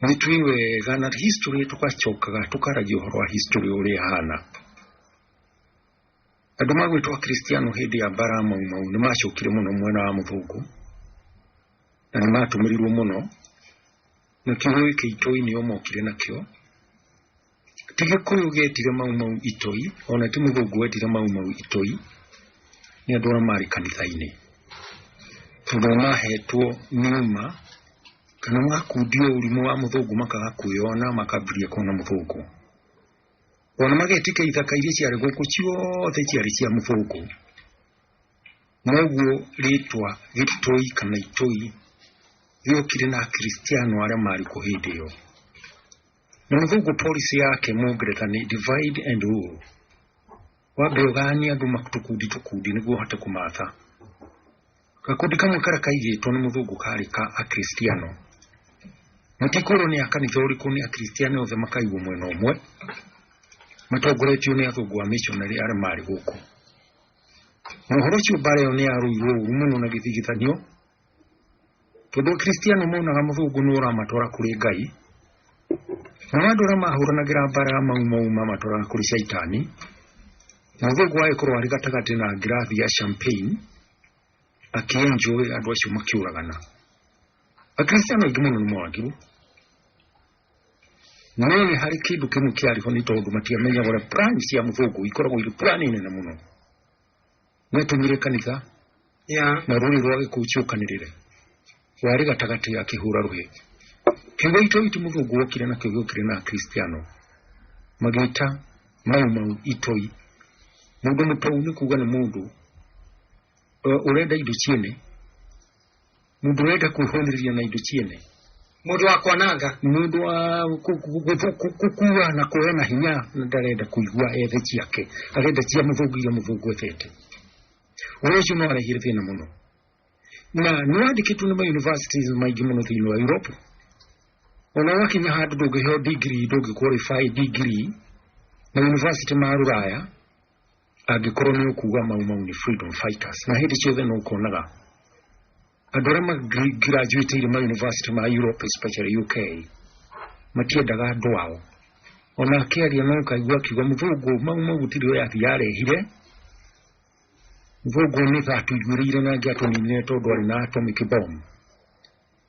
nĩ tũĩ wega na history tũgacokaga tũkaragia ũhoro wa history ũrĩa ĩhana andũ magwĩtwo akristiano hĩndĩ ya mbara mau mau nĩ macokire mũno mwena wa mũthũngũ na nĩ matũmĩrirwo mũno na kĩhũĩ kĩitũ-inĩ o mokire nakĩo Ti gĩkũyũ gĩetire mau mau itoi, ona ti mũthũngũ wetire mau mau itoi, nĩ andũ arĩa marĩ kanitha-inĩ. Tondũ mahetwo nĩma, kana makundio ũrimũ wa mũthũngũ makaga kwĩyona makambĩrĩria kuona mũthũngũ. Ona magetĩkia ithaka iria ciarĩ gũkũ ciothe ciarĩ cia mũthũngũ. Noguo rĩtwa gĩtoi kana itoi rĩokire na akristiano arĩa marĩ kuo hĩndĩ ĩyo. Mũthũngũ policy yake mũngereka nĩ divide and rule. Wambe ũganie andũ tũkundi tũkundi nĩguo ũhote kũmatha. Gakundi kamwe karĩa kaigĩtwo nĩ mũthũngũ karĩ ka akristiano. Mũtikwĩrwo nĩ akanitha ũrĩkũ nĩ akristiano othe makaigwo mwena ũmwe matongoretio nĩ athũngũ a missionary arĩa marĩ gũkũ. Mohoro ũcio mbara ĩyo nĩ yarũirwo ũru mũno na gĩthigithanio tondũ akristiano monaga mũthũngũ nĩ ũramatwara kũrĩ ngai na andũ arĩa mahũranagĩra mbara ya mau mau mamatwaraga kũrĩ caitani mũthũngũ agĩkorwo arĩ gatagatĩ na ngirathi ya champagne akĩenjũĩ andũ acio makĩũragana akristiano aingĩ mũno nĩ moragirwo no nĩ harĩ kĩndũ kĩmwe kĩarĩ ho nĩ tondũ matiamenyaga ũrĩa plan cia mũthũngũ ikoragwo irĩ plan nene mũno Nĩ atũmire kanitha ya na rũrĩ rwa gĩkũũ ciũkanĩrĩre warĩ gatagatĩ ya kĩhũra rũhĩ kiugo itũ itũ mũthũngũ wokire na kiugo kĩrĩ na akristiano magĩta mau mau itoi mũndũ mũtou nĩ kuga nĩ mũndũ ũrenda indo ciene Mũndũ ũrenda kwĩhũnĩrĩria na indo ciene. Mũndũ wa kwananga. Mũndũ wa kũkua na kũhe na hinya ndarenda kũigua ethe ciake. Arenda cia mũthũngũ iria mũthũngũ ethete. Ũhoro ũcio no arehire thĩna mũno. Na nĩ wandĩkĩtwo nĩ mayunivasitĩ maingĩ mũno thĩinĩ wa Europe. Ona wakinya handũ ndũngĩheo ndigiri, ndũngĩqualify ndigiri na yunivasitĩ ma Rũraya Angĩkorwo nĩ ũkuga mau mau nĩ freedom fighters, na hĩndĩ ciothe no ũkonaga andũ arĩa magirajuĩtĩire ma university ma Europe especially UK matiendaga andũ ao ona akĩaria no ũkaigua akiuga mũthũngũ mau mau gũtirĩ ũrĩa athiĩ arehire mũthũngũ nĩ atũiguĩrĩire na angĩ atũninire tondũ arĩ na atomic bomb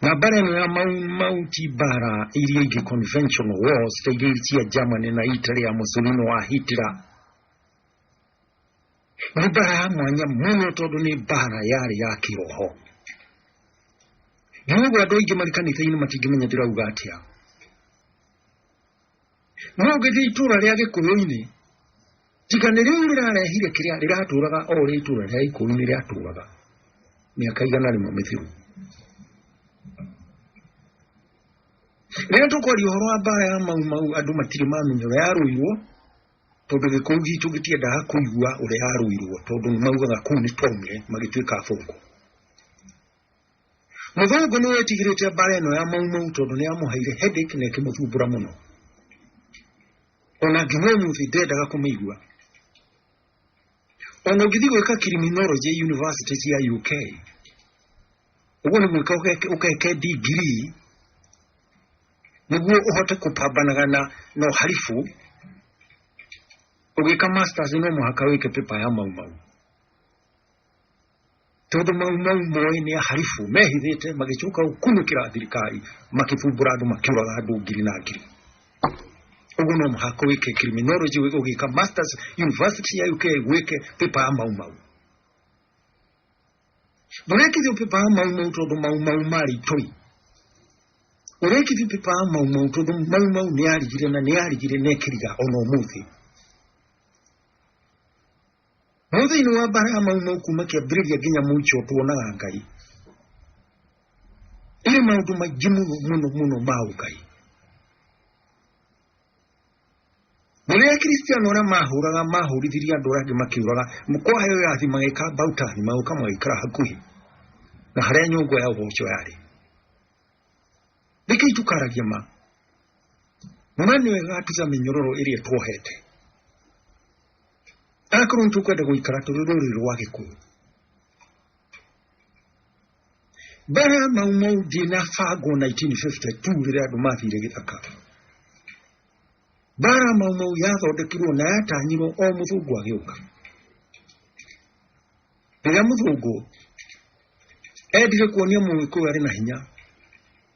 Ngambara ĩno ya mau, mau ti mbara iria ingĩ conventional wars ta iria cia Germany na Italy ya Mussolini wa Hitler nĩ mbara ya mwanya mũno tondũ nĩ mbara yarĩ ya kĩroho nĩ ũguo andũ aingĩ marĩ kanitha-inĩ matingĩmenya ndĩrauga atĩa No ũgĩthiĩ itũũra rĩa gĩkũyũ-inĩ, tiga nĩ rĩu rĩrarehire kĩrĩa rĩratũũraga o ũrĩa itũũra rĩa gĩkũyũ-inĩ rĩatũũraga mĩaka igana rĩmwe mĩthiru. Rĩrĩa tũkwaria ũhoro wa mbaara ya mau mau andũ matirĩ mamenya ũrĩa yarũirwo, tondũ gĩkũyũ gitũ gĩtiendaga kũigua ũrĩa yarũirwo tondũ nĩ maugaga kũu nĩ twaumire magĩtuĩka athũngũ. Mũthũngũ nĩ wetigirĩte mbara ĩno ya maumau tondũ nĩ yamũheire headache na ĩkĩmũthumbũra mũno. Ona nginya ũmũthĩ ndendaga kũmĩigua. Ona ũngĩthiĩ gwĩka criminology university cia UK, ũguo nĩ gwĩka ũgeke- ũgeke degree nĩguo ũhote kũpambanaga na na ũharibu ũgĩka masters no mũhaka wĩke paper ya maumau tondũ mau mau moĩ nĩ aharibu mehithĩte magĩcoka gũkunũkĩra thirikari makĩbumbũra andũ makĩũraga andũ ngiri na ngiri ũguo no mũhaka wĩke criminology ũgĩka masters university ya UK wĩke pepa ya mau mau ndũrekithio pepa ya mau mau tondũ mau mau marĩ itoi ũrekithio pepa ya mau mau tondũ mau mau nĩ yarigire na nĩ yarigire na ĩkĩriga ona ũmũthĩ No thĩinĩ wa mbara ya mau mau kuma kĩambĩrĩria nginya mũico tuonaga Ngai. Ĩrĩ maũndũ maingĩ mũno mũno mũno ma ũkai. Na rĩrĩa Akristiano arĩa mahũraga mahũrithirie andũ arĩa angĩ makĩũraga, kwa yo yathi magĩka about time magĩũka magĩikara hakuhĩ na harĩa nyũngũ ya ũboco yarĩ. Rekei tukaragia ma. Mwana ũyũ agatuca mĩnyororo ĩrĩa tuohete. akorwo nĩ tũkwenda gũikara tũrĩ rũrĩrĩ rwa gĩkũyũ mbere ya mau mau ndinabangwo 1952 rĩrĩa andũ mathire gĩthaka mbara mau mau yathondekirwo na yatanyirwo o mũthũngũ agĩũka Rĩrĩa mũthũngũ endire kuonia mũgĩkũyũ arĩ na hinya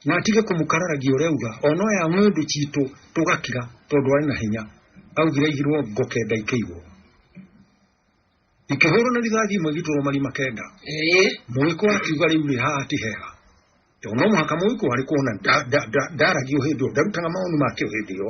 na atige kũmũkararagia ũrĩa uga ona ya ng'ũndũ citũ tũgakira tondũ arĩ na hinya augire aigirwo ngo kenda ikĩigwo ikĩhũrwo na rithathi imwe igĩtũrwo marima kenda mũgĩkũyũ akiuga rĩu rĩ haha ti hega tondũ no mũhaka mũgĩkũyũ arĩ kuona ndaragio hĩndĩ ĩyo ndarutaga maoni make hĩndĩ ĩyo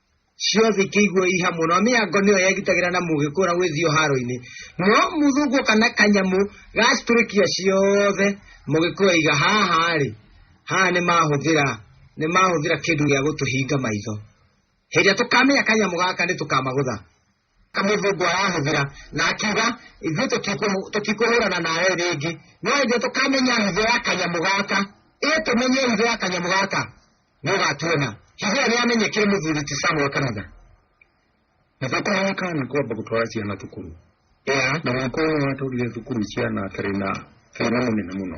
ciothe ikĩigua i hamwe nao mĩango nĩyo yegitagĩra na mũgĩ kũra gwĩthio haro-inĩ no mũthũngũ kana kanyamũ gacitũrĩkia ciothe mũgĩkũya iga haha rĩ haha nĩ mahũthĩra nĩ mahũthĩra kĩndũ gĩa gũtũhinga maitho hĩndĩ ĩrĩa tũkamenya kanyamũ gaka nĩ tũkamagũtha kamĩthĩngwa yahũthĩra na akiuga ithuĩ tũtikũ- tũtikũhũrana nawe rĩngĩ no ithuĩ tũkamenya hitho ya kanyamũ gaka ĩ tũmenye hitho ya kanyamũ gaka nĩ ũgatuona hitho ĩyo nĩyamenyekire mũthuri ti samuel kanitha na thakame kana kwamba gũtwara ciana thukuru ya na mwaka ũyũ watwarire thukuru ciana atarĩ na thĩna mũnene mũno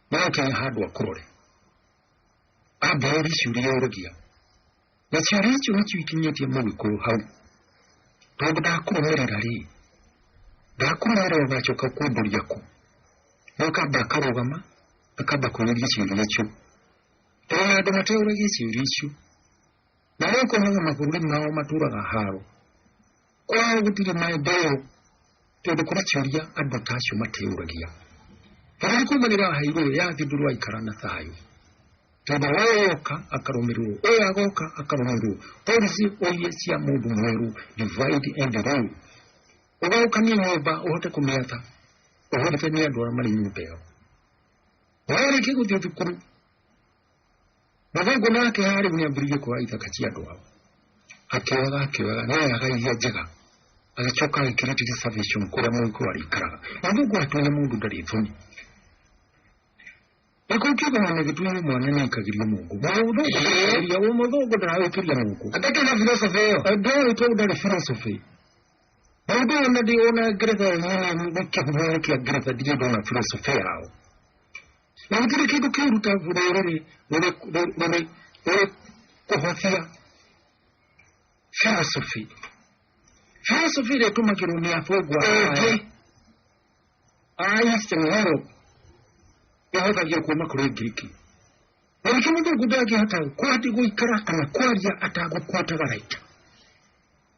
nake e handå akårore ambĩrĩri ciuria orogia na ciuria icio nĩcio ikinyĩtie mũgĩkũyũ hau tondũ ndakũrũmĩrĩra rĩ ndakũrũmĩrĩra ũgacoka kũmbũria kũ no kamba akarũgama akamba kũrĩria ciuria icio tondũ na andũ mateũragia ciuria icio na rĩu konaga mabũrũri mao matũraga haro Kwaga gũtirĩ maendeleo tondũ kũracaria andũ ta acio matĩyũragia. Bũrũri kuumanĩra hairũ ya thindũrwa ikara na thayũ tondũ ũyũ yoka akarũmĩrĩrwo ũyũ agoka akarũmĩrĩrwo polisi ũirie cia mũndũ mwerũ divide and rule ũgaũkanie nyũmba ũhote kũmĩatha ũhũthĩke nĩ andũ arĩa marĩ nyũmba ĩyo warĩkia gũthiĩ thukuru Mathangu make harĩ nĩ ambĩrĩirie kuoya ithaka cia andũ ao akĩoyaga akĩoyaga nĩ ayaga iria njega agĩcoka agĩkĩrĩte reservation kũrĩa mũndũ arĩikaraga na Mungu atũire mũndũ ndarĩ thoni nĩkũ kiugo na gĩtuire mwana nĩ aikagĩria Mungu mũthũngũ ndaragĩkĩria mũthũngũ ndaragĩkĩria Mungu atakĩ na philosophy ĩyo ndarĩ to ndarĩ philosophy Mũndũ ona ndĩ ona ngeretha nyene nĩ kĩhumo kĩa ngeretha ndirĩ ndona philosophy yao na gũtirĩ kĩndũ kĩruta rũrĩrĩ rũrĩ kũhũthia philosophy philosophy ĩrĩa ĩtũmagĩrwo nĩ abũngwa aingĩ a eastern europe ĩhũthagio kuma kũrĩ ngiriki na nĩkĩ mũthũngũ ndangĩhota kwati gũikara kana kwaria atagũkwata garaita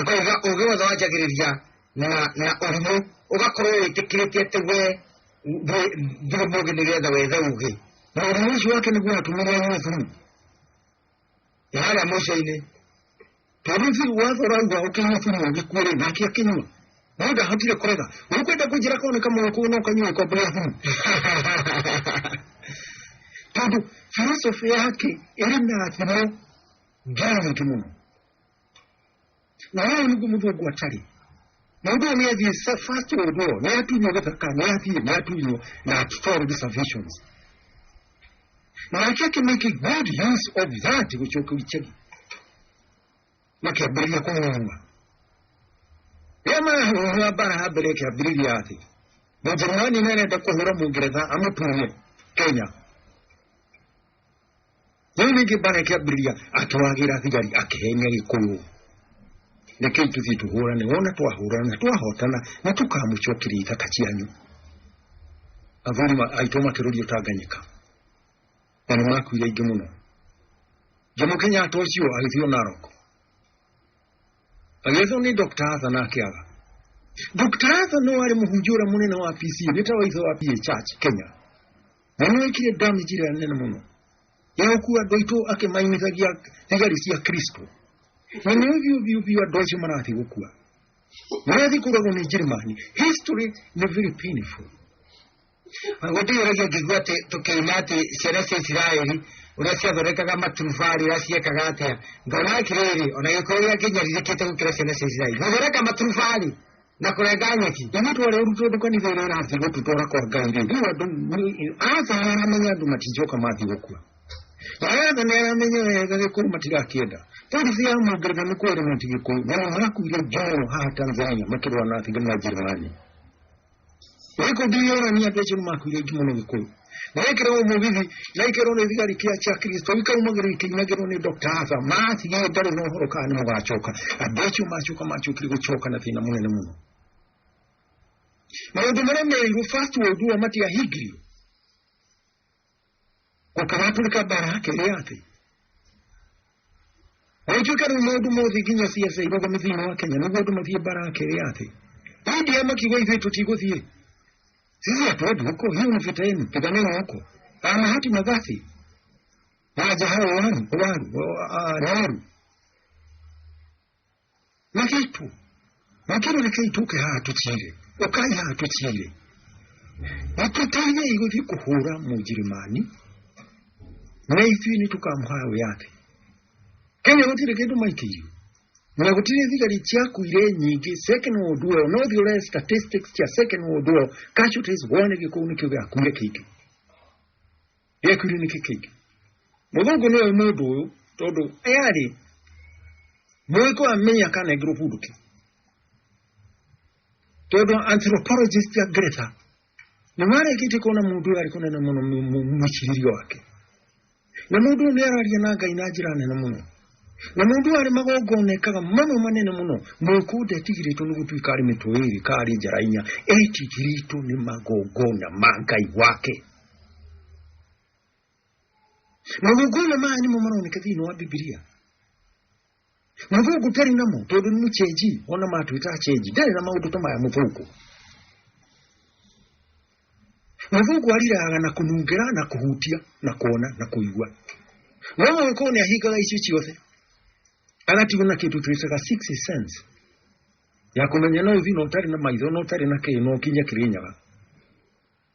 Ũgĩ- ũgĩ wothe wanjagĩrĩria na na ũrimũ ũgakorwo wĩtĩkĩrĩtie atĩ we ndũ- ndũrĩ mũgĩ nĩgetha wethe ũgĩ na ũrimũ ũcio wake nĩguo watũmire Yesu ya harĩa mũico-inĩ tondũ biũ watho ũrauga ũkĩnyua biũ ũgĩkuĩrĩ nake akĩnyua no ndahotire kũrega ũkwenda kũnjĩra korwo nĩ kamũgĩ kũu no kanyua ikombe rĩa biũ tondũ philosophy yake ĩrĩ na thimo nginya nyingĩ mũno na wao nĩguo mũndũ ũguo atarĩ na ũndũ ũyũ nĩathiĩ sa- first world war nĩatunywo gĩthaka nĩathiĩ nĩatunywo na atold reservations na nake akĩmake good use of that gũcoka icagi makĩambĩrĩria kũhũhũa rĩa marahũhũa mbara ha mbere ĩkĩambĩrĩria atĩ mũjerumani nĩarenda kũhũra mũngeretha amũtunye kenya Rĩu ningĩ mbara ĩkĩambĩrĩria akĩwagĩra thigari akĩhenia gĩkũyũ reke ituthiĩ tũhũrane wona twahũrana na twahotana nĩ tũkamũcokeria ithaka cianyu athuri ma- aitũ makĩrũrio tanganyika na nĩ makuire aingĩ mũno jomo kenyatta ũcio agĩthiĩ narok agĩethwo nĩ dr hatha na akĩaga dr hatha no arĩ mũhunjia ũrĩa mũnene wa pc nĩ ta waithe wa ph church kenya na nä wekire damage ä rä a nene må no ya gå kua andå aitå akä mainithagia thigari cia kristo na nä å biå biå biå andå acio marathi gå kua marathi kå ragwo nä njirimani history nä very painful gũtigĩragia ngĩigua atĩ tũkĩina atĩ ciana cia isiraeli ũrĩa ciathondekaga maturubarĩ ũrĩa ciekaga atĩa ngona atĩrĩrĩ ona gĩkorwo gĩakinyarithĩkĩte gũkĩra ciana cia isiraeli gũthondeka maturubarĩ na kũrenga nyeki na matũ arĩa ũrutwo nĩ kanitha ĩrĩa ĩrathiĩ gũtutwara kwa ngai rĩ rĩu andũ aca aramenya andũ matinjoka mathiĩ gũkua aca nĩ aramenya wega gĩkũyũ matirakĩenda polisi ya mũngereza nĩ kwere mati gĩkũyũ na marakuire njoro haha tanzania makĩrũa na thigari na njĩrani ĩkũndirĩorania andũ acio nĩ makuire aingĩ mũno gĩkũyũ nĩwekĩrwo mũgithi nĩwekĩrwo nĩ thigari kĩa cia kristo ikaumagĩrwo ikinyagĩrwo nĩ dr arthur matige ndarĩ na ũhoro kana nĩ mũgacoka andũ acio macoka macokire gũcoka na thĩna mũnene mũno maũndũ marĩa merirwo first world war matiahingirio gũkaratũrĩka mbara ya kerĩ ya thĩ Rĩngĩ ũkarĩ mũndũ mũthĩ nginya ciaca igoga mĩthina wa Kenya nĩguo andũ mathiĩ mbara akĩrĩ atĩ hĩndĩ ya makiuga ithuĩ tũtigũthiĩ sisi hatuendi huko, hiyo ni vita yenu, piganeni huko. Ana hati na basi waja hao waru waru wa- ah, Nyaru magetu makero reke ituke haha tukire ukai haha tukire watutanya igo vikuhura mujirimani na ithui ni tukamuhaya wiyathi kenya gutire kindu maitirio na gutire thigari ciakuire nyingi second world war no thiure statistics cia second world war casualties wone gikuuni kiu giakuire kingi gĩakuire nĩkĩ kĩngĩ mũthũngũ nĩwe mũndũ ũyũ tondũ ayarĩ mũgĩkũ amenya kanengerwo kũndũ kĩ tondũ anthropologist ya ngeretha nĩ marĩkĩtie kuona mũndũ ũyũ arĩ kũnene mũno mũ- mũ- mwĩcirĩrie wake na mũndũ ũyũ nĩ araria na ngai na njĩra nene mũno na mũndũ ũyũ arĩ magongona ekaga mamwe manene mũno mũgĩkũ ndetigĩrĩtwo nĩ gũtuĩka arĩ mĩtwe ĩrĩ ka arĩ njara inya etigĩrĩtwo nĩ magongona ma ngai wake mavogolo ma animo maroneka thĩinĩ wa bibilia mũthũku tarĩ namo tondũ nĩ mũchenji ona matwĩta achenji ndarĩ na maũndũ ta maya mũthũku mũthũku ariraga na kũnungĩra na kũhutia na kuona na kũigua no mũgĩkũũ nĩ ahingaga icio ciothe agatigwo na kĩndũ twĩtaga six sense ya kũmenya no ũthiĩ na ũtarĩ na maitho na ũtarĩ na kĩĩ na ũkinye kĩrĩnyaga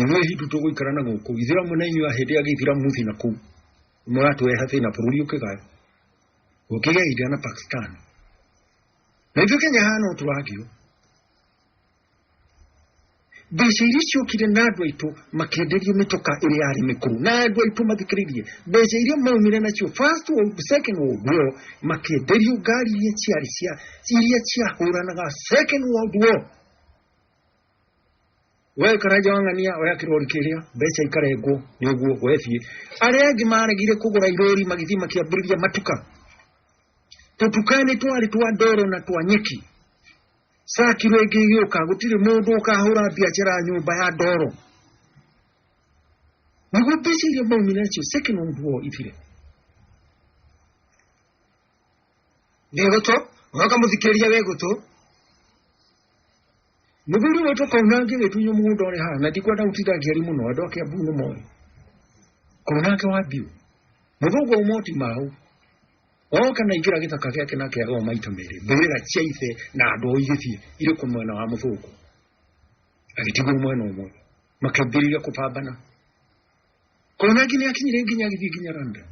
Ithuĩ hitu tũgũikara na gũkũ ithiramu na inyuĩ hĩndĩ ya gĩithiramu thĩ na kũu mũratũreha thĩna bũrũri ũkĩgaya gũkĩgĩa India na Pakistan na ithuĩ Kenya haha no tũragio mbeca iria ciokire na andũ aitũ makĩenderio mĩtoka ĩrĩa yarĩ mĩkũrũ na andũ aitũ mathikĩrĩirie mbeca iria maumire nacio first world second world war makĩenderio ngari iria ciarĩ cia iria ciahũranaga second world war we karanja wang'ania oya kirori kiria mbeca ikarengwo ni uguo we thie aria angi maregire kugura irori magithii makiambiriria matuka tutukani twari twa ndoro na twa nyeki saa kiro ingi igiuka gutiri mundu ukahura biashara ya nyumba ya ndoro niguo mbeca iria maumire nacio second world war ithire nä gå tå oka må thikä ria wä gå tå Mũthuri ũyũ tũkauna angĩgĩtunywo mũgũnda ũrĩ haha na ndikwenda gũtinda ngĩari mũno andũ a Kiambu nĩ moĩ. Korwo nake wa biũ. Mũthũngũ wa moti mau. Oka na ingĩra gĩthaka gĩake na kĩaga o maita merĩ. Mbĩrĩra cia ithe na andũ ao igĩthiĩ irĩ kũ mwena wa mũthũngũ. Agĩtigwo mwena ũmwe. Makĩambĩrĩria kũpambana. Korwo nake nĩ akinyire nginya agĩthiĩ nginya Randa.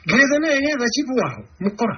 Ngetha naye getha chibu wao mũkora.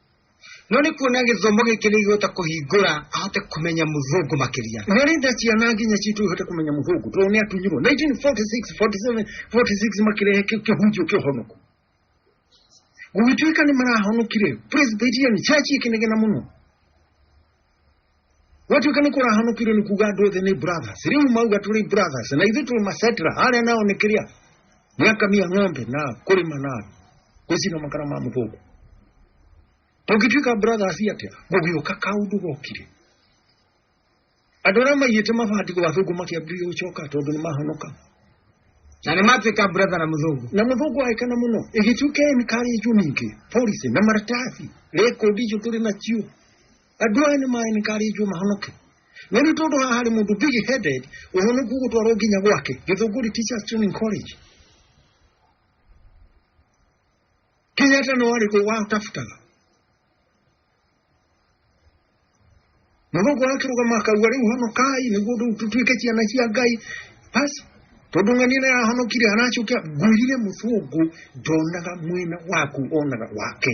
no nĩ kuona gĩthomo gĩkĩ nĩ igũhota kũhingũra ahote kũmenya mũthũngũ makĩria nĩ arenda ciana nginya citũ ihote kũmenya mũthũngũ tondũ nĩ atunyirwo 1946 47 46 makĩrehe kĩ- kĩhunjio kĩa ũhonoko gũgĩtuĩka nĩ marahonokire presbyterian church ĩkĩnegena mũno gwatuĩka nĩ kũrahanũkire nĩ kuga andũ othe nĩ brothers rĩu mauga tũrĩ brothers na ithuĩ tũrĩ macetra arĩa nao nĩ kĩrĩa nĩ akamia ng'ombe na kũrĩma na gũcina makara ma mũthũngũ tũngĩtuĩka brothers atĩa gũgĩũka kaũndũ gokire andũ arĩa maiyĩte mabandiko athũngũ makĩambĩrĩria gũcoka tondũ nĩ mahonoka na nĩ matuĩka brother na mũthũngũ na mũthũngũ aĩkana mũno ĩgĩtuĩka nĩ karĩjũ ningĩ polisi na maratathi rekondi icio tũrĩ nacio andũ aya nĩ mainkarĩtio mahonoke no nĩ tondũ haha harĩ mũndũ big headed ũhonoku gũtwarwo nginya gwake gĩthũngũri teachers training college kenyatta no arĩ kũ watafutaga na gũkũ akĩrũgama akauga rĩu honokai nĩguo rĩu tũtuĩke ciana cia ngai basi tondũ ng'ani ĩno yahonokire aracokia ngwĩrire mũthũngũ ndonaga mwena waku onaga wake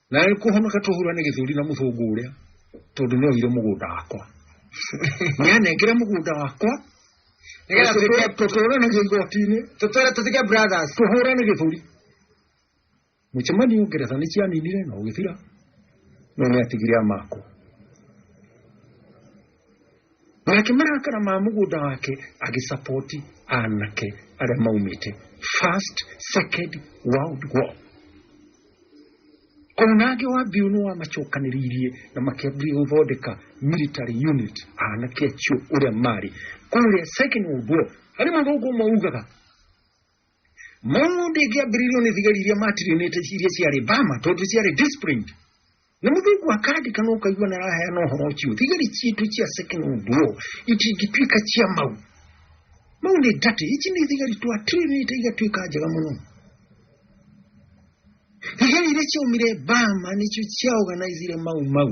na nĩ kũhonoka tũhura nĩ gĩthũri na mũthũngũ ũrĩa tondũ nĩ oire mũgũnda wakwa nĩ anengere mũgũnda wakwa Nĩgetha tũtũre- tũtũranagia igoti-inĩ tũtũre tũtige brothers tũhũra nĩ gĩthũri mũcemanio ngeretha nĩ cianinire na ũgĩthira no nĩ atigire amakwo nake marakara ma mũgũnda wake agĩsapoti anake arĩa maumĩte first second world war ona angĩ wa mbiũ nĩ wamacokanĩrĩirie na makĩambia gũthondeka military unit anake acio ũrĩa marĩ kũrĩa second world war harĩ mũthũngũ ũmwe ugaga Maũndũ ĩkĩambĩrĩirio nĩ thigari iria matirinĩte iria ciarĩ Bama tondũ ciarĩ disciplined. Nĩ mũthungu akandĩka na ũkaigua na araheana ũhoro ũcio. Thigari ciitũ cia second duo itingĩtuĩka cia mau. Mau nĩ ndatĩ, ici nĩ thigari twatirinĩte igatuĩka njega mũno. Thigari iria ciaumire Bama nĩcio ciaorganizire mau mau.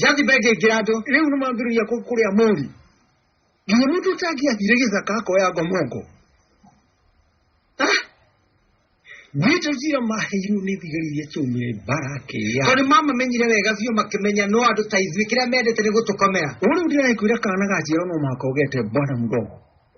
jazi bege girado riu ni mambiriria kuria mori nginya mundu utangiathire githaka akoya ngomongo Nito jira mahiru ni thigari iria ciumire mbarake ya. Tondũ mamamenyire wega biũ makĩmenya no andũ ta ithuĩ kĩrĩa mendete nĩ gũtũkomera. Ũrĩa ndĩrakwĩra kana gaciaro no mũhaka ũgete bwana mgongo.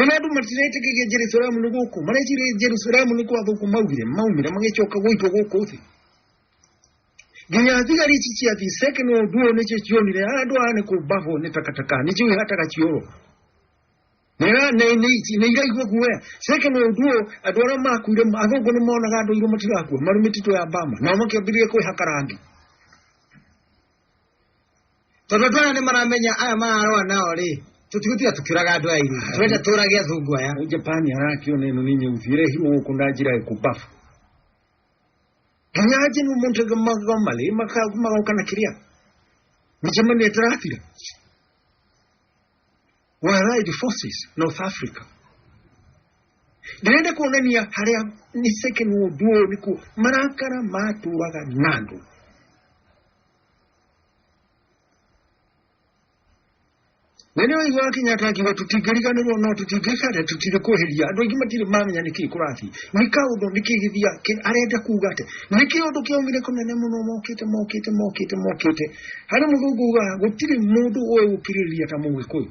ona andu matirete kigia jerusalemu ni guku marecire jerusalemu ni kwathuku maugire maumire magicoka guitwo guku thi nginya thigari ici cia thiseke no undu uyu nicio cionire andu aya ni kumbahwo ni takataka nicio ihataga cioro nira niraigua guoya seke no undu uyu andu aria makuire athungu ni monaga andu airu matirakua mari mititu ya bama nao makiambirie kwihaka rangi Tondũ andũ aya nĩ maramenya aya mararoa nao rĩ, tũtigũtiga tũkĩũraga andũ aya inyuĩ. Tũrenda tũũrage athungu aya. Huyu Japani harakiona ino ni nyeusi ire hiwo huko ndajira ikubafu kanyaje ni umuntu gamale magokana kiria micemani etirafira wa allied forces north africa ndirenda kuonania haria ni second world war niku marakara maturaga nandu mwene ũyũ wa kenyatta akiuga tũtingĩriganĩrwo no tũtingĩikare tũtirĩ kweheria andũ aingĩ matirĩ mamenya nĩkĩ kũrathiĩ nĩ kaũndũ nĩkĩ gĩthia kĩ- arenda kuga atĩ nĩkĩ ũndũ kĩaumire kũnene mũno mokĩte mokĩte mokĩte mokĩte harĩ mũthũngũ ugaga gũtirĩ mũndũ ũĩ gũkirĩrĩria ta mũgĩkũyũ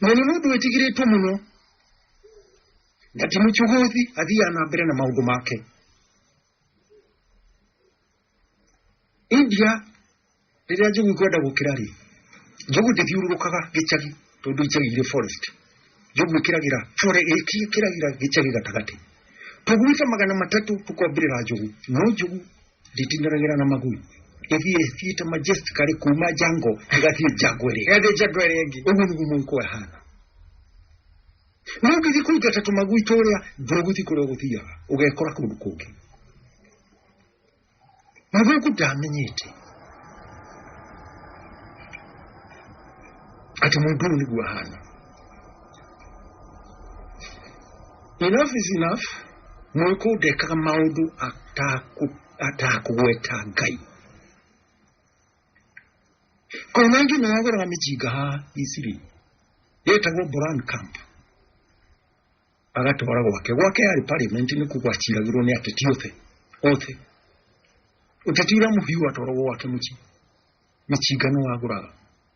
na nĩ mũndũ wĩtigĩrĩtwo mũno na ti mũchũgũthi athiaga na mbere na maũndũ make india rĩrĩa njogu ikwenda gũkĩra rĩ njogu ndĩthiũrũrũkaga gĩcagi tondũ icagi irĩ forest njogu ĩkĩragĩra fore ĩki ĩkĩragĩra gĩcagi gatagatĩ tũguita magana matatũ tũkombĩrĩra njogu no njogu nditindoragĩra na magui ĩthiĩ ĩthiĩte majestically kuma jango ĩgathiĩ jango ĩrĩa ĩgathiĩ jango ĩrĩa ĩngĩ ũguo nĩguo mũiko ĩhana no ngĩthiĩ kũingata tũmagui tũrĩa ndũgũthiĩ kũrĩa ũgũthiaga ũgekora kũndũ kũngĩ mũthũku ndamenyete atĩ mũndũ ũyũ nĩguo ahana enough is enough Mũrĩkũ ndekaga maũndũ atakũgweta Ngai? Kũrĩ na ĩngĩ ĩno yagũraga mĩcinga haha Misiri yetagwo Boran Camp agatwara gwake gwake yarĩ parliament nĩ kuga aciragĩrwo nĩ ateti othe othe ũteti ũrĩa mũhiũ atwaragwo gwake mũciĩ mĩcinga nĩ wagũraga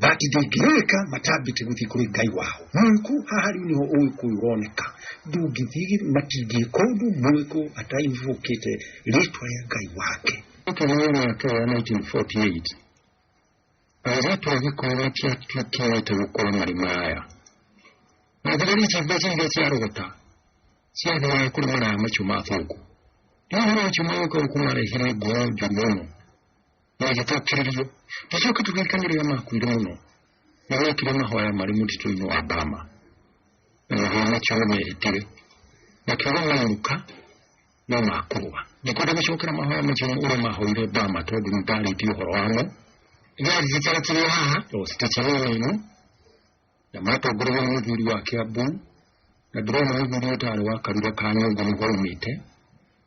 na ndingĩrĩka matambĩte gũthiĩ kũrĩ ngai wao mũĩkũ haha rĩu nĩho ũgĩkũyũ ũroneka ndũngĩthiĩ matingĩka ũndũ mũĩkũ atainvũkĩte rĩtwa rĩa ngai wake Ũkĩrĩra mĩaka ya 1948 airĩtu a gĩkũyũ matiatuĩkĩte gũkũra marima aya na thigari ici mbeca iria ciarogota ciathiaga kũrĩ maraya macio ma thũngũ rĩu maraya macio ma gũka gũkũ marehire ngoro njũru mũno na ĩgĩtũkĩrĩria gĩcoke tũririkane rĩrĩa makuire mũno na mekire mahoya marĩ mũtitũ-inĩ wa Bama na magĩa makĩo nĩ mehĩtire makiuga mainũka no makũrũa ndikwenda gũcokera mahoya macio ũrĩa mahoire Bama tondũ nĩ ndarĩtie ũhoro wamo gĩaririkana kĩrĩa haha o station-inĩ ĩno na matongorerio nĩ mũthuri wa Kiambu na ndĩrona mũthuri ũyũ tarĩ wa Karura ka Nyũngũ nĩho aumĩte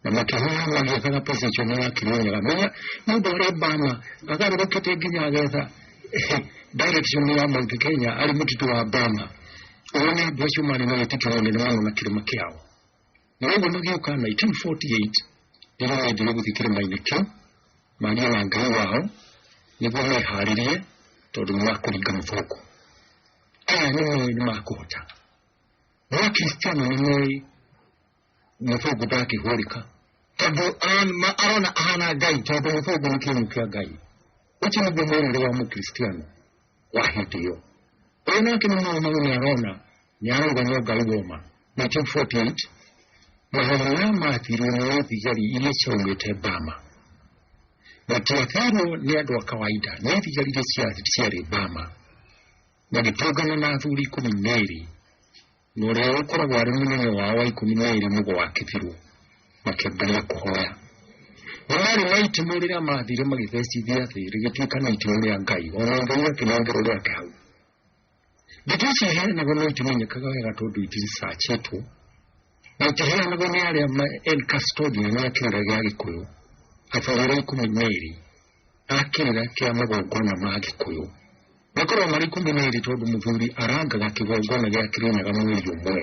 na makĩhoya magĩethaga position ya Kĩrĩnyaga menya nĩ ũndũ ũrĩa Obama agarũrũkĩte nginya agetha direction ya Mount Kenya arĩ mũtitũ wa Obama ũyũ nĩ andũ acio marĩ na wĩtĩkio mũnene mũno na kĩrĩma kĩao na rĩmwe magĩũka 1948 rĩrĩa mendire gũthiĩ kĩrĩma-inĩ kĩu maria na ngai wao nĩguo meharĩrie tondũ nĩ makũringa mũthũngũ aya nĩ moĩ nĩ makũhota no akristiano nĩ moĩ mũthũngũ ndangĩhũrĩka tondũ an- ma- arona ahana ngai tondũ mũthũngũ nĩ kĩhumo kĩa ngai ũcio nĩguo mwĩrĩre wa mũkristiano rahmatiyo ena kina mwana mwana ni arona ni arona ni oga igoma 1948 mahamana mathirwo ni thigari iria ciaumĩte bama na tiathirwo nĩ andũ a kawaida nĩ thigari iria ciarĩ bama na gĩtũngana na athuri ikũmi na erĩ na ũrĩa ũkoragwo arĩ mũnene wao wa ikũmi na ĩrĩ nĩguo wakĩbirwo makĩambĩrĩria kũhoya na marĩ na itimũ rĩrĩa mathire magĩthecithia thĩ rĩgĩtuĩka na itimũ rĩa ngai ona ngai akĩnengerwo rĩake hau ndeto ici iheanagwo no itimenyekaga wega tondũ itiricacĩtwo na itiheanagwo nĩ arĩa ma- el custodian ya kĩũria gĩa gĩkũyũ athogora ikũmi na ĩrĩ a kĩrĩra kĩa magongona ma gĩkũyũ makoragwo marĩ ikũmi na ĩrĩ tondũ mũthuri arangaga kĩgongona gĩa kĩrĩnyaga mweri ũmwe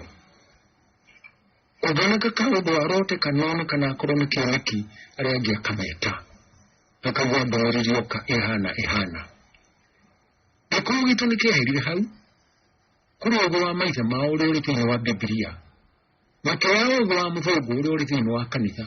kũnganaka ka ũndũ arote kanona kana akorwo nĩ kĩoneki arĩa angĩ akameta akagwa ndũmĩrĩri oka ĩhana ĩhana gĩkũyũ gitũ nĩ kĩaherire hau kũrĩ ũgũ wa maithe mao ũrĩa ũrĩ thĩinĩ wa bibilia na kĩrĩa ũgũ wa mũthũngũ ũrĩa ũrĩ thĩinĩ wa kanitha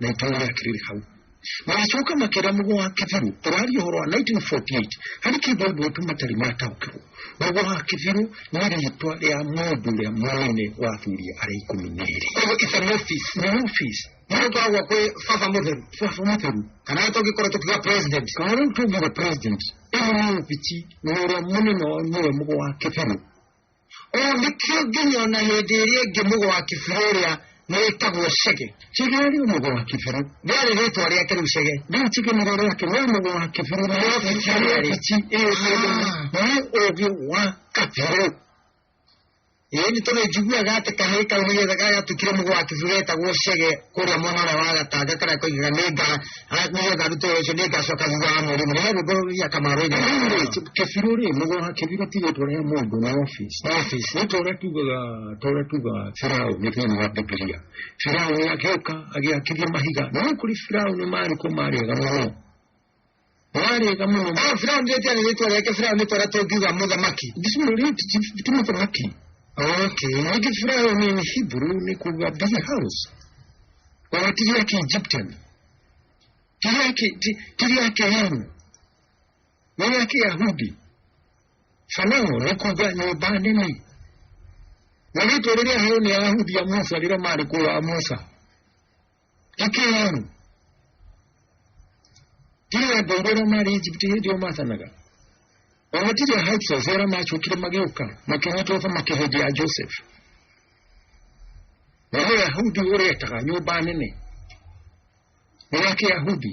na itũra rĩa kĩrĩrĩ hau magĩcoka makĩra mũgũ wa kĩbirũ ũraria ũhoro wa 1948 harĩ kĩndũ andũ aitũ matarĩ mataũkĩrwo mũgũ wa kĩbirũ nĩ rĩtwa rĩa mũndũ ũrĩa mũnene wa athuri arĩa ikũmi na erĩ Koguo it's an office. nĩ office Nĩ gũkoragwo kwĩ baba mũtheru. baba mũtheru Kana tũngĩkorwo tũkiuga president. kana rĩu tũngire president ĩno nĩ obici na ũrĩa mũnene wao nĩwe mũgũ wa kĩbirũ O nĩkĩo nginya ona hĩndĩ ĩrĩa ĩngĩ mũgwa kĩbirũ ũrĩa nĩ wĩtagwo cege cege arĩ mũgwa wa kĩbirũ rĩarĩ rĩtwa rĩake rĩu cege rĩu cege nĩ rĩrĩa kĩrĩ mũgwa wa kĩbirũ na wabici wabici ĩyo nĩ ũgĩ wa kabirũ ĩĩ nĩ tondũ njiguaga atĩ kahĩĩ kau nĩgetha gagatuĩkire mũgwa wa kĩbirũ getagwo cege kũrĩa mwena ũrĩa wa gatanga karĩa koigaga nĩ nga nĩgetha arute wĩra ũcio nĩ ngacoka thutha wa mweri mũnene rĩu ngũrũria kamarũinĩ kĩbirũ rĩ mũgoha kĩbirũ tigä tå rehe må ndå na office office nä torä tugaga torä tugaga firaå nä thä inä wa bibilia firaå nä agä å ka agä akithia mahiga na nä kå rä firaå nä marä kå marä ega må no warega muno Ah, Firauni rĩtia nĩ rĩtwa rĩake Firauni twara tũngiuga mũthamaki. bismillah ti mũthamaki Okay. ningĩ firauni nĩ hebrew nĩ kuga busy house ona ti rĩa kiegyptian ti rĩa ki- ti- ti rĩa kĩhemu nĩ rĩa kĩyahudi fanao nĩ kuga nyũmba nene na rĩtwa rĩrĩa heo nĩ ayahudi a musa rĩrĩa marĩ kũrĩa a musa ĩkĩ yenu tiwe ngai rĩrĩa marĩ egypt hĩndĩ ĩyo mathanaga o gũtirĩ heights of era macokire magĩũka makĩnyitwo thamaki hĩndĩ ya joseph na nĩ yahudi ũretaga nyũmba nene nĩ ya kĩyahudi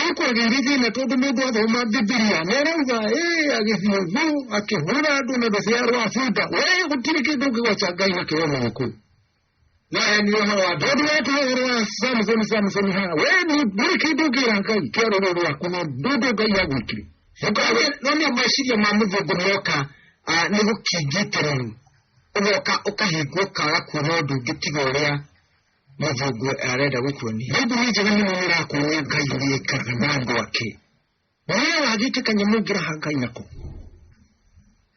ĩĩ kwagĩire thĩna tondũ mũndũ athoma Bibilia nĩ arauga ĩĩ agĩthiũgũ akĩhũra andũ na ndũciarwo a bunda we gũtirĩ kĩndũ ũngĩgwaca Ngai na kĩo na gĩkũ naye nĩ ũhoro wa tondũ weta ũhoro wa Samsoni Samsoni haha we ndũrĩ kĩndũ ũngĩra Ngai kĩa rũrũ rwaku na ndũndũ Ngai agwĩkire ũkagĩa no nĩ meciria ma mũthũngũ moka nĩ gũkingĩte rĩu ũgoka ũkahingwo ũkaga kuona ũndũ ũngĩ tiga ũrĩa mavugo arenda gũkuonia nĩ ndũmĩ njega mũno nĩ ĩrakuonia ngai ũrĩa ĩkaga na andũ ake na wee wagĩte kanyamũ ũngĩraha ngai nako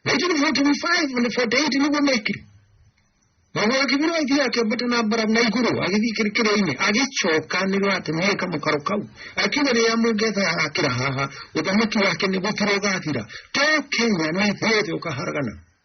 1945 na 48 nĩguo mekire Naguo akĩbirwo athiĩ akĩambata na mbara na igũrũ agĩthiĩ kĩrĩkĩrĩinĩ agĩcoka nĩ rwate mweka mũkaro kau akiuga rĩrĩa mũngetha akĩra haha ũthamaki wake nĩ gũthira ũgathira to kenya nĩ thĩ yothe ũkaharagana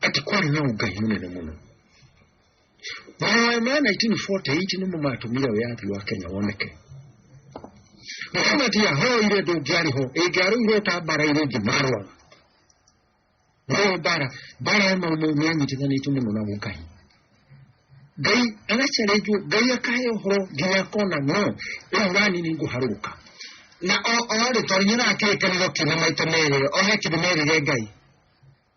kati kwali na ugayi munene muno bwama 1948 nimu matumira yathi wa kenya woneke muhamadi yahoire ndungiariho ingiarugire utambara ire ngi marwa no mbara mbara ya maumo nĩanyitithanĩtio mũno na mũngai ngai agacarenjwo ngai akahe ũhoro nginya akona no ĩyo rani nĩ ngũharũrũka na o o rĩ tondũ nĩ ũrakĩrĩkanĩro kĩna maita merĩ o he kĩndũ merĩre ngai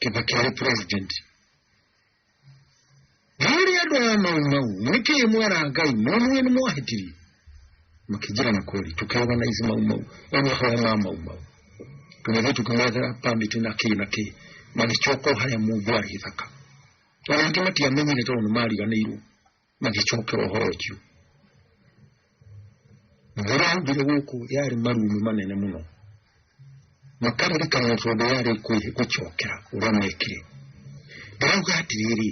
kĩva kĩarĩ president harĩ andũ aya mau mau nĩkĩ mwera ngai mwamuĩ nĩ mwahĩtirie makĩnjĩra na kweli tũkĩorganize mau mau onahoya ma mau mau tũgĩthiĩ tũkĩmethera permit na kĩ na kĩ magĩcoka o harĩa mũndũ arĩ gĩthaka ona angĩ matiamenyire tondũ nĩ mariganĩirwo magĩcokera ũhoro ũcio maraugire gũkũ yarĩ marumi manene mũno makaririkana tondũ yarĩ kwĩ- gũcokera ũrĩa mekire ndarauga atĩrĩrĩ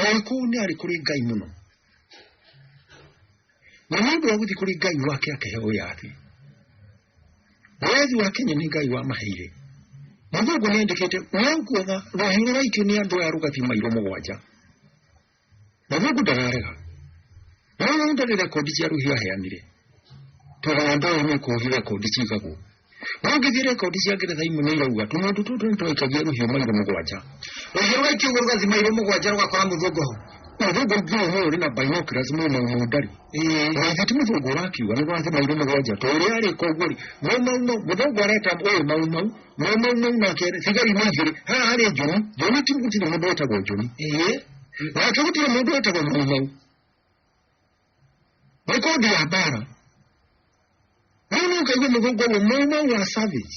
oĩ kũu nĩ arĩ kũrĩ ngai mũno na nĩ ũndũ wa gũthiĩ kũrĩ ngai wake akĩheo yathi Mwathi wa Kenya nĩ Ngai wa maheire. Mũthũngũ nĩandĩkĩte nĩnguona rũhiũ rũraikio nĩ andũ aya rũgathiĩ mairo mũgwanja. Mũthũngũ ndararega. No rĩu ndarĩ rekondi cia rũhiũ aheanire. Tondũ andũ aya nĩ kũũhi rekondi cigagwo. No ngĩthiĩ rekondi cia Ngeretha imwe nĩ irauga tũmũndũ tũtũ nĩ twaikagia rũhiũ mairo mũgwanja. Rũhiũ rũgaikio ũguo rũgathiĩ mairo mũgwanja rũgakora mũthũngũ ho. Mũthũngũ nginya ũyũ ũrĩ na binoculars mwena ũmwe ndarĩ. gĩtumi thũngũ ũrakiuga nĩ gwathe mairũ mũgwanja to ũrĩa arĩ koguo rĩ maumau mũthũngũ areta ũyũ maumau maumau nake thigari nĩ igĩrĩ haha harĩ njũni njũni ti gũtirĩ mũndũ wĩtagwo njũni nake gũtirĩ mũndũ wĩtagwo maumau nĩ kondi ya mbara rĩu nĩ ũkaigua mũthũngũ ũguo maumau wa savage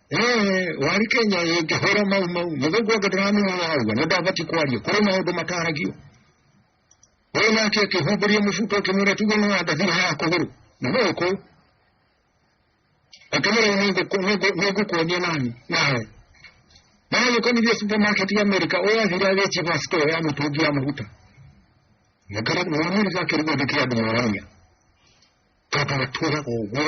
Eh, wari kenya ingĩhũra mau mau mũthũngũ angĩ ndĩramenya arauga nĩ ndabatiĩ kwaria kũrĩ maũndũ mataragio ũyũ nake akĩhumbũria mũbuto akĩmwĩra tuge nĩ wandathira ya kũgũrũ na no ũkũ akĩmwĩra nĩngũkuonia nani nawe nagĩkonithia supermarket ya amerika ũyũ athire agĩciba store ya mĩtũngi ya maguta nĩwamerika akĩrigwo nĩ kĩa andũ maramia tondũ matũraga ũguo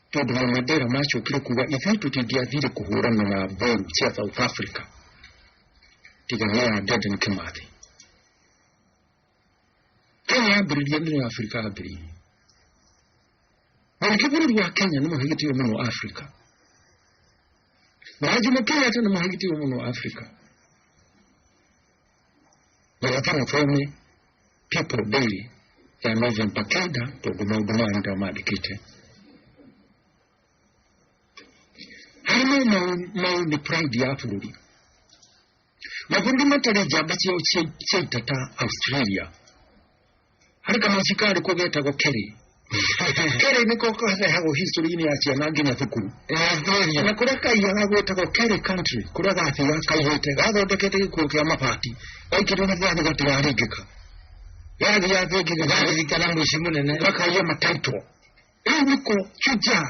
Pedro Madera macokire kuga ithuĩ tũtingĩathire kũhũrana na mboru cia South Africa tiga nĩ ya Dedan Kimathi. Kenya yambĩrĩria nĩ ya Afrika yambĩrĩirie. Mũingĩ bũrũri wa Kenya nĩ mũhĩgĩtĩo mũno Afrika. Na Jomo Kenyatta nĩ mũhĩgĩtĩo mũno Afrika. Lakini informe people daily ya move mpakeda tuguma huduma ndio madikite. Hano mau ni pride ya bũrũri. Mabundi matarĩ njamba ciao ciaitata Australia harĩ kamũci karĩ kuo getagwo kerĩ kerĩ nĩko karehagwo history-inĩ ya ciana nginya thukuru na kũrĩa kaiyaga gwĩtagwo kerĩ country kũrĩa gathiga kaihĩte gathondekete gĩkuo kĩa mabati gaikĩrwo na thani gatigaringĩka gathiga thĩ nginya garirikana mũici mũnene gakaiya mataitwo rĩu nĩko shujaa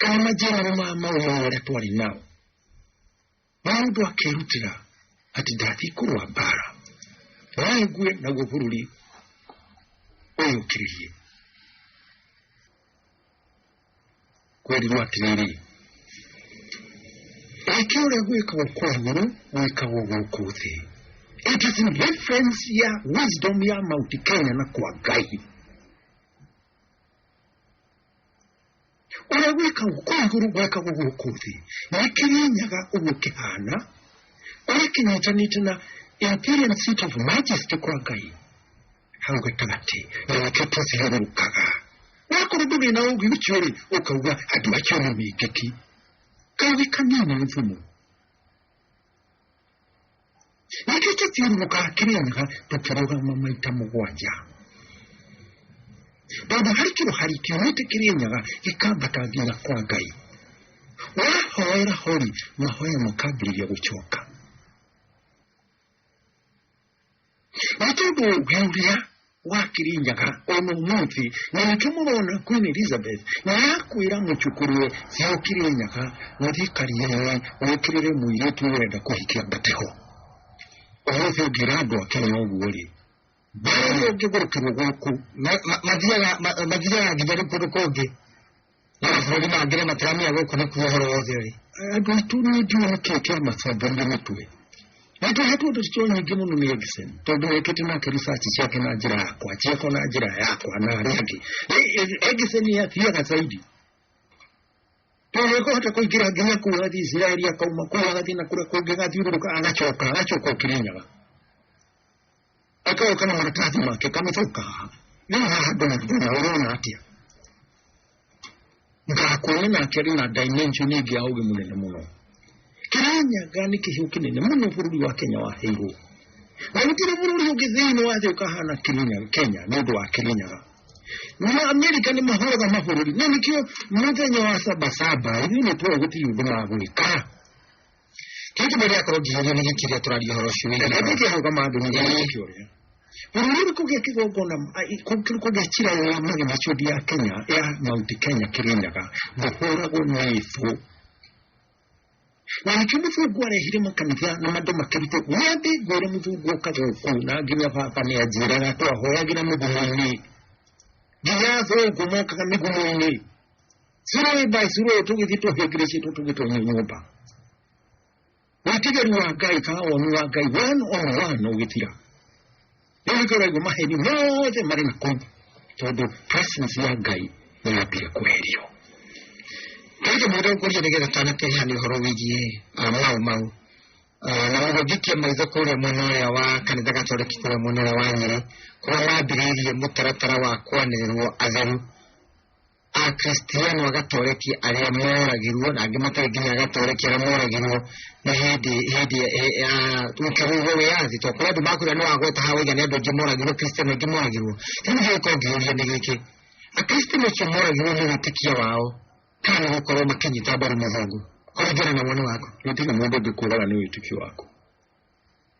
kana majiararo ma mau marĩa twarĩ nao maũndũ akĩrutĩra atĩ ndathiĩ kũrũa mbara naengue naguo bũrũri ũyũkĩrĩrie kwerirwo atĩrĩrĩ eke ũrĩa gwĩkagwo kwa igũrũ gwĩkagwo gũkũ thĩ it is in reference ya wisdom ya mount kenya na kwa ngai ũrĩa gwĩka kũu igũrũ gwekagwo gũkũ thĩ nĩkĩrĩnyaga ũguo kĩhana ũrĩa kĩnyitanĩte na imperial seat of majesty kwa ngai hau gatagatĩ na nakĩo tũthiũrũrũkaga wakorwo ndũrĩ na ũgĩ ũcio rĩ ũkauga andũ acio nĩ mĩngĩki kaũgĩ kanini nĩ thumu na kĩu tũthiũrũrũkaga kĩrĩaga tũkĩrũgama maita mũgwanja tondũ harĩ kĩro hari kiumĩte kĩrĩnyaga gĩkambata nginya kwa ngai wahoera hori mahoya makambĩrĩria gũcoka nĩ tondũ ngai ũrĩa wa kirinyaga ona ũmũthĩ na nĩkĩo mũrona queen elizabeth na yakwĩra mũcukũrwe cia ũkirinyaga gũthiĩ kariae wĩkĩrĩre mũirĩtu ũrenda kũhikia mbateho ũmũthĩ ũngĩra andũ a kenya ũguo rĩ mbara ũngĩ gũkĩrwo gũkũ mathiaga nginya rĩ kũndũ kũngĩ no mabũrũri mangĩ rĩ matiramenya gũkũ nĩ kuo ũhoro wothe ũrĩ andũ aitũ nĩ ndiũĩ nĩkĩ kĩamakomborire mĩtwe nake hatu ũndũ cio nyingĩ mũno nĩ Erikson tondũ wekĩte nake research ciake na njĩra yakwa ciakwa na njĩra yakwa na arĩa angĩ Erikson athiaga zaidi tondũ nĩkũhota kũingĩra nginya kũu agathiĩ Israeli akauma kũu agathiĩ na kũrĩa kũngĩ agathiũrũrũka agacoka agacoka ũkĩrinyaga Ekayo kana maratathi make kamĩcoka nĩ haha andũ mathĩna ũrona atĩa ngakuona nake arĩ na dimension ĩngĩ ya ũgĩ mũnene mũno kĩranyaga nĩ kĩhiũ kĩnene mũno bũrũri wa kenya waheirwo na gũtirĩ bũrũri ũngĩ thĩinĩ wa thĩ ũkahana Kirinyaga- kenya nĩ ũndũ wa kĩrinyaga na amerika nĩ mahũraga mabũrũri na nĩkĩo mũthenya wa sabasaba ithuĩ nĩ tũĩ gũtirĩ ũndũ magwĩka Kĩndũ mĩrĩa akorwo ngĩheria nĩ gĩkĩ rĩa tũraria ũhoro ũcio wĩgiĩ Reke ndigĩ hau kama andũ nĩ gĩkĩ kĩũria. Bũrũri kũgĩa kĩgongona kũgĩa cira ya magema ciũthi ya Kenya ya Mount Kenya Kĩrĩnyaga ndũhũragwo na ĩbũ. Na nĩkĩo mũthungu arehire makanitha na andũ makĩrute wĩathĩ ngwĩre mũthungu oka gũkũ na nginya baba nĩ anjĩraga twahoyagĩra mĩgumo-inĩ. Nginya athũngũ mokaga mĩgumo-inĩ. zero by zero tugithito hekirisi tugito nyumba witigeri wa ngai kana woni wa ngai one on one ugitira nĩgĩkoragwo maheni mothe marĩ na kũu tondũ presence ya ngai nĩyambire kweherio kaita mũndũ ũkũria nĩgetha tanakeha nĩ ũhoro wĩgiĩ ah, mau mau Ah, na mũhũngikie maitho kũrĩa mwena ũrĩa wa kanitha gatoreki kũrĩa mwena ũrĩa wa nyĩrĩ kũrĩa wambĩrĩirie mũtaratara wa kwanĩrĩrwo atheru akristiano agatoreki arĩa moragirwo na angĩ matarĩ nginya agatoreki arĩa moragirwo nĩ hĩndĩ hĩndĩ eh, ya ũkĩrĩirwo wĩyathi to kũrĩa andũ makwĩra nĩ wagweta ha wĩigana andũ aingĩ moragirwo kristiano aingĩ moragirwo rĩu nĩ gĩko ngĩũria nĩ gĩkĩ akristiano acio moragirwo nĩ wĩtĩkia wao kana nĩ gũkorwo makĩnyita mbaru mũthũngũ kũringana na woni waku gũtirĩ mũndũ ũngĩkũraga nĩ wĩtĩkio waku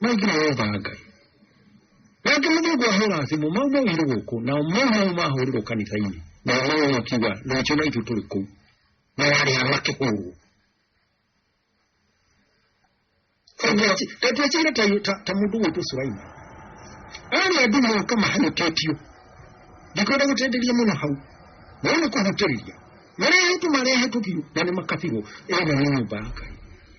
maingĩ na wetha ngai nake mũthũngũ ahũra thimũ mau maugire gũkũ nao mau mau mahũrĩrwo kanitha-inĩ nao mau makiuga rũciũ na ithuĩ tũrĩ kũu na yarĩ ha makĩhũrwo ndatuĩkire ta mũndũ gwĩtwo suraima arĩ andũ moka mahanyũkĩtio ndikwenda gũtenderia mũno hau no nĩ kũhutĩrĩria marehetwo marehetwo biũ na nĩ makabirwo ĩyo nĩ nyũmba ya ngai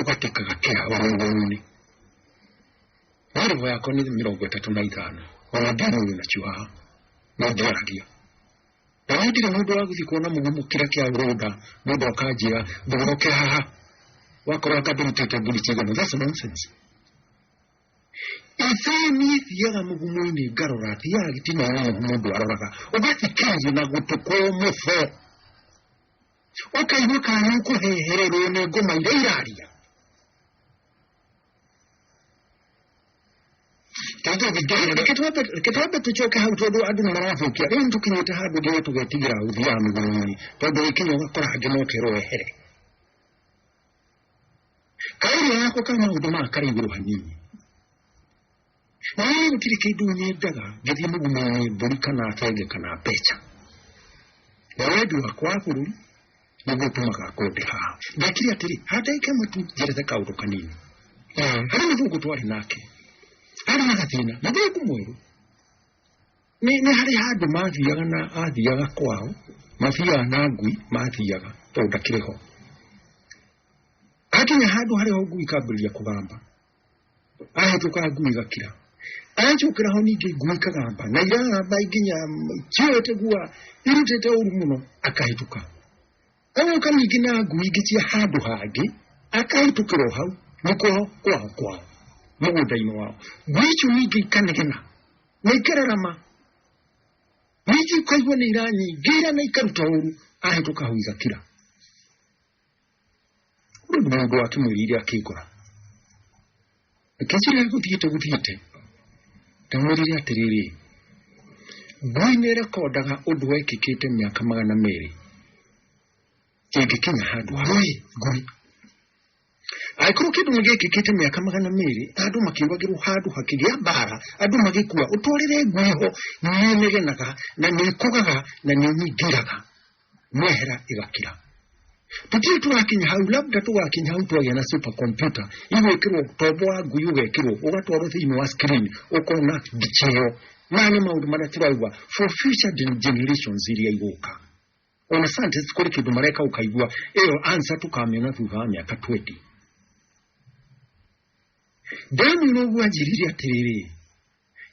ũgatekaga kĩha wĩ rũngũrũ-inĩ warĩbo yakwa nĩ mĩrongo ĩtatũ na ithano ona ndĩmũĩ na ciwaha no ndĩaragia na niĩ ndirĩ mũndũ wa gũthiĩ kuona mũno mũkĩra kĩa rũnda mũndũ akanjĩra thogoroke haha wakorwo akandĩrutĩte mbũri cigana that's nonsense ithe niĩ thiaga mũgumo-inĩ ngarora thiaga gĩtina-inĩ mũndũ aroraga ũgathikĩrĩria na gũtũ kwa mũbo ũkaigua kana ũkũhehererwo nĩ ngoma iria iraria reke twambe tũcoke hau tondũ andũ nĩ marathũkia rĩu nĩ tũkinyĩte handũ nginya tũgetigĩra gũthiaga mĩgũnda-inĩ tondũ gĩkinya ũgakora angĩ mokerwo wehere kaĩria yako ka maũndũ maya karĩ igũrũ hanini Ee, gũtirĩ kĩndũ nyendaga gĩthiĩ mũgumo-inĩ mbũri kana benge kana mbeca na wendi wakwa wa bũrũri nĩguo ũtũmaga ngũnde haha ndekire atĩrĩ handaike mũtu njerethe kaũndũ kanini harĩ mũthũngũ twarĩ nake arĩ na gathĩna mũthũngũ mwerũ nĩ nĩ harĩ handũ mathiaga na athiaga kwao mathiaga na ngui mathiaga tondũ ndakĩrĩ ho akinya handũ harĩ ho ngui ikambĩrĩria kũgamba ahacũkaga ngui igakira acokera ho ningĩ ngui ikagamba na iragamba nginya kĩoete gua irutĩte ũru mũno akahĩtũka agoka ningĩ na ngui ingĩ cia handũ hangĩ akahĩtũkĩra o hau nĩko kwao kwao mũgũnda-inĩ wao ngui icio ningĩ ikanegena na ikararama ningĩ ikaigua nĩ iranyingĩra na ikaruta ũru ahĩtũka hau igakira Rĩu mũndũ akĩmwĩrire akĩngora kĩnjĩra gũthiĩte gũthiĩte ndamwĩrire atĩrĩrĩ ngui nĩ rekondaga ũndũ wekĩkĩte mĩaka magana merĩ ĩngĩkinya handũ ngui ngui angĩkorwo kĩndũ nĩ gĩkĩkĩte mĩaka magana merĩ andũ makĩũragĩrwo handũ hakĩgĩa mbara andũ magĩkua ũtwarĩre ngui ho nĩnegenaga na nĩkũgaga na nĩnyingĩraga mehera ĩgakira tũtirĩ tũrakinya hau labda tũgakinya hau twagĩa na super computer igwĩkĩrwo tombo wa ngui ũgekĩrwo ũgatwarwo thĩinĩ wa screen ũkona mbica ĩyo maya nĩ maũndũ marĩa tũraigua for future gen- generations iria igũka ona scientists kũrĩ kĩndũ mareka ũkaigua ĩyo answer tũkamĩona thutha wa mĩaka 20 ndamwĩra ũguo anjĩrire atĩrĩrĩ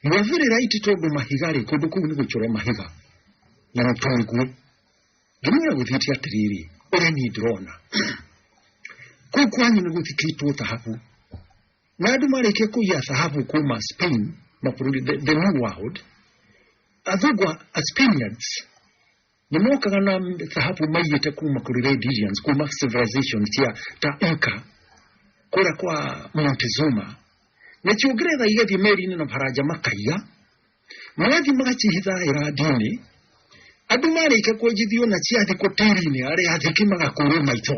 Mavere raiti togo mahiga re kodo ku ni kuchora mahiga. Na mtoni ku. Gimira kuthiti atiriri. Ore ni drona. Ku kwanyu ni kuthiti tu thahabu. Na andu marike ku ya thahabu ku ma Spain, mabũrũri the, the new world. Athugwa as Spaniards. nĩ mokaga na thahabu maiyĩte kuma kũrĩ Red Indians kuma civilization cia ta Inca kũrĩa kwa Montezuma na cio ngeretha igathiĩ meri-inĩ na baranja makaiya magathiĩ magacihitha irandi-inĩ andũ marĩkia kwenjithio na ciathiĩ kũ tĩri-inĩ arĩa athĩki magakũrwo maitho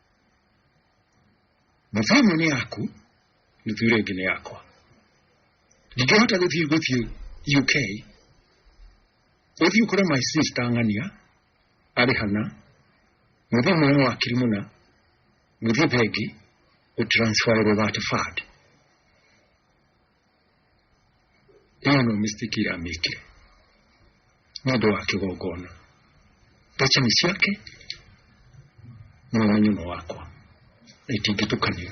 nuthu ĩmwe nĩ yaku nuthu ĩrĩa ĩngĩ nĩ yakwa ndingĩhota gũthiĩ gũthiĩ uk ũthiĩ ũkore my sister ng'ania arĩ hana mũthiĩ mwana wa kirimuna mũthiĩ bengi ũtransferwo that fund ĩyo no mistake ira mĩkire nĩ ũndũ wa kĩgongona mbeca nĩ ciake na ũmenyo nĩ wakwa na itingĩtukanio